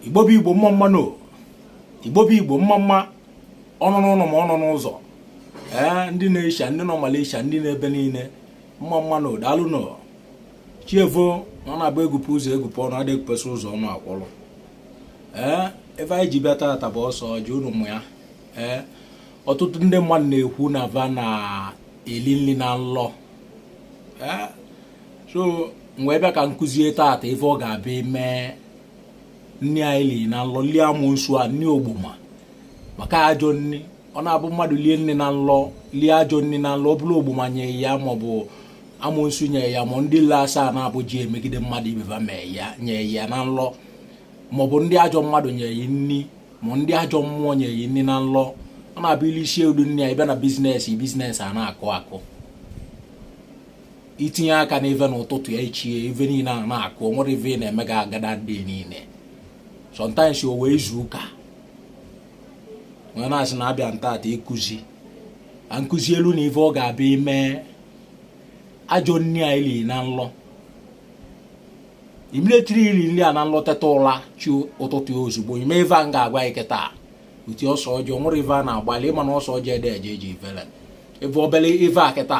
igbo bụ igbo mma mma nụ igbo bụ igbo mma mma ọnọ n'ụlọ ma ọnọ n'ụzọ ee ndị nọ Asia ndị nọ Malaysia ndị nọ ebe niile mma mma nụ daalụ nụ chi evoo na ọ na-abụ egupe ụzọ egupe ọnụ ada egupesi ụzọ ọnụ akwụrụ ee ive anyị ji bịa taata bụ ose ọjị unu ma ya ee ọtụtụ ndị mmadụ na-ekwu na va na-eli nli na nlọ so m wee bịa ka m kụzie taata ife ọ ga-abụ ị mee nni anyị li na nlọ lie amụnsu a nni ogboma maka ajọ nni ọ na-abụ mmadụ lie nni na nlọ lie ajọ nni na nlọ ọ bụrụ ogboma nye ya maọbụ amụnsu nye ya ma ndị le asaa na-abụ ji emegide mmadụ ibe va mee ya nye ya na nlọ maọbụ ndị ajọ mmadụ nye ya nni ma ndị ajọ mmụọ nye ya nni na nlọ ọ na-abụ i lisie ụdị nni a ị bịa na business business a na-akụ akụ i tinye aka n'ive n'ụtụtụ ya ichie ive niile a na-akụ o nwerọ ive ị na-eme gị agada ndị niile sometimes o wee izu ụka m wee na-asị na abịa m taata ịkụzi ka m kụzielu unu ive ọ ga-abụ ị mee ajọ nri a i li na nlọ immediately i ri nri a na nlọ teta ụla chi ụtụtụ ya ozugbo ị mee ive a m ga-agwa gị kịta uti ose ọjị o nwere ive a na-agbalị ị ma na ose ọjị ada eje ije ivele ive obele ive a kịta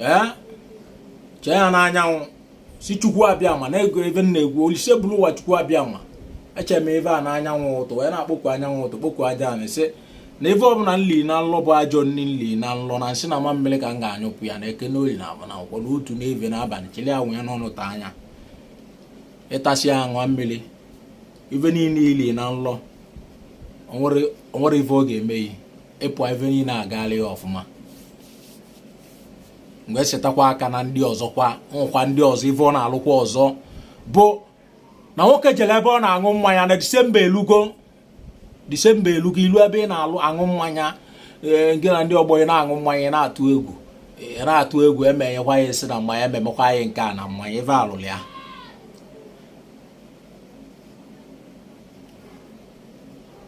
ee chee ya n'anyanwụ sị chukwu abịama na-ego ebe m na-egwu olise bulu ụwa chukwu abịama echere m ive a n'anyanwụ ụtụtụ wee na-akpọku anyanwụ ụtụtụ kpọku aja ana sị na ive ọbụla m li na nlọ bụ ajọ nri m li na nlọ na nsị na mamịrị ka m ga-anyụpụ ya na eke n'olie na avọ na nkwọ n'ụtụtụ n'evivie n'abalị chili anọ ya n'ọnụ taa ya ị tasịa ya ṅụọ mmiri ife niile i li na nlọ o nwerọ ife ọ ga-eme yi ị pụa ife niile agaala gị ọfụma m ga-esetịkwa aka na ndị ọzọ kwa nwekwa ndị ọzọ ife ọ na-alụkwa ọzọ bụ na nwoke jere ebe ọ na-aṅụ mmanya na disemba elugo disemba elugo i lu ebe ị na-aṅụ aṅụ mmanya ee gị na ndị ọgbọ ị na-aṅụ mmanya na-atụ egwu ị na-atụ egwu emenyekwa ya nsi na mmanya emekwa ya nke a na mmanya ife alụrụ ya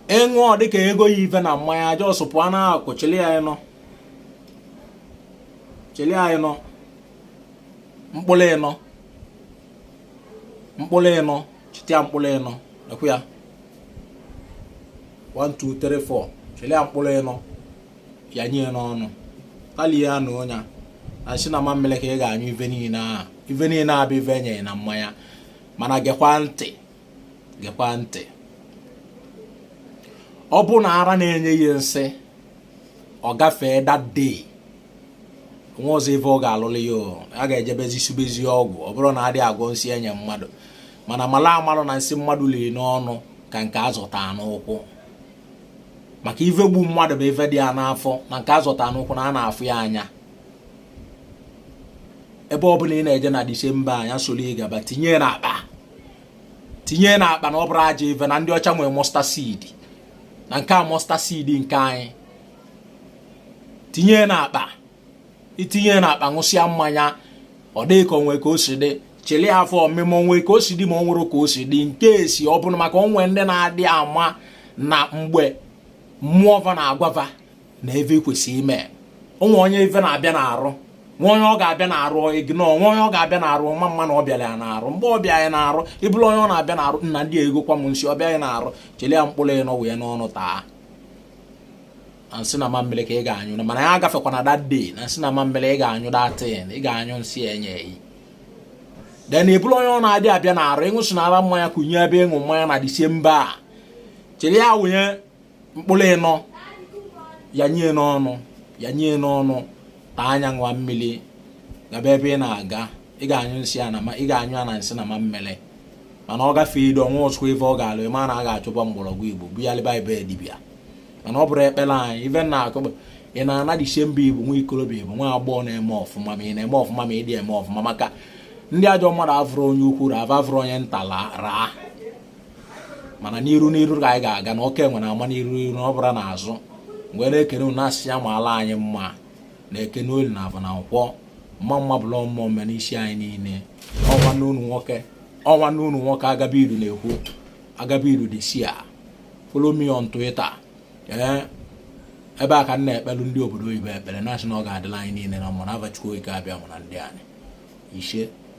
ị ṅụọ dịka ego ya ife na mmanya just pụọ n'akụkụ chili ya ịnọ chili ya ịnọ mkpụrụ ịnọ mkpụrụ ịnọ chite ya mkpụrụ ịnọ ekwu ya 1 2 3 4 chili ya mkpụrụ ịnọ yanye n'ọnụ talie ya n'ọnụ na nsị na mamịrị ka ị ga-anyụ ife niile a ife niile a bụ ife e nye gị na mmanya mana gekwa ntị gekwa ntị ọ bụ na ara na-enye ya nsị ọ gafee that day nwezi ive ọ ga-alụlụ ya a ga-ejebezi sibezi ọgwụ ọ bụrụ na adịghị agwọ nsị enye mmadụ mana malụ amalụ na nsị mmadụ liri n'ọnụ ka nke azọta n'ụkwụ maka ive gbu mmadụ bụ ive dị ya n'afọ na nke azọta n'ụkwụ na a na-afụ ya anya ebe ọ bụla ị na-eje na disemba a nya soro ị gaba tinye na akpa tinye na akpa na ọ bụrọ ajọ ive na ndị ọcha nwere mustard seed na nke a mustard seed nke anyị tinye na akpa i tinye na akpa ṅụsịa mmanya ọ dị ka o nwe ka o si dị chili afọ ọmị ma o nwe ka o si dị ma o nwerọ ka o si dị in case ọ bụrụ maka o nwe ndị na-adị ama na mgbe mmụọ va na-agwa va na ive kwesị ime o nwe onye ive na-abịa n'arụ nwe onye ọ ga-abịa n'arụ ignore nwe onye ọ ga-abịa n'arụ ma ama na ọ bịara ya n'arụ mgbe ọ bịa ya n'arụ ị bụrụ onye ọ na-abịa n'arụ nna ndị egokwa m nsị ọ bịa ya n'arụ chili ya mkpụrụ ịnọ wee n'ọnụ taa na nsị na mamịrị ka ị ga-anyụ mana ya agafekwa na that day na nsị na mamịrị ị ga-anyụ that thing ị ga-anyụ nsị enye yi then ị bụrụ onye ọ na-adị abịa n'arụ ị ṅụsịnara mmanya kụnye ebe ị ṅụ mmanya na disemba a chili ya wụnye mkpụrụ ịnọ ya nye n'ọnụ ya nye n'ọnụ taa ya ṅụọ mmiri gaba ebe ị na-aga ị ga-anyụ nsị a na ị ga-anyụ a na nsị na mamịrị mana ọ gafee ido o nwezikwa ive ọ ga-alụ ị ma na a ga-achụba mgbọrọgwụ igbo bu ya leba ebe dibịa mana ọ bụrọ ekpere anyị ife na akụ ị na-ana disemba igbo nwa ikorobịa igbo nwa agbọghọ na-eme ọfụma ma ị na-eme ọfụma ma ị dị eme ọfụma maka ndị ajọ mmadụ avụrọ onye ukwu raa avụrọ onye nta raa mana n'iru n'iru ka anyị ga-aga na oke nwere ama n'iru ọ bụrọ n'azụ m wee na-ekene unu asị ya malụ anyị mma na eke n'olie na avọ na nkwọ mma mma bụla mmụọ mme n'isi anyị niile ọ nwanne unu nwoke ọ nwanne unu nwoke agabiru na-ekwu agabiru dị si a follow me on Twitter ee ebe a ka m na-ekpelu ndị obodo oyibo ekpere na-asị na ọ ga-adịlị anyị niile na mma na ava chukwu okike abịama na ndị anyị ise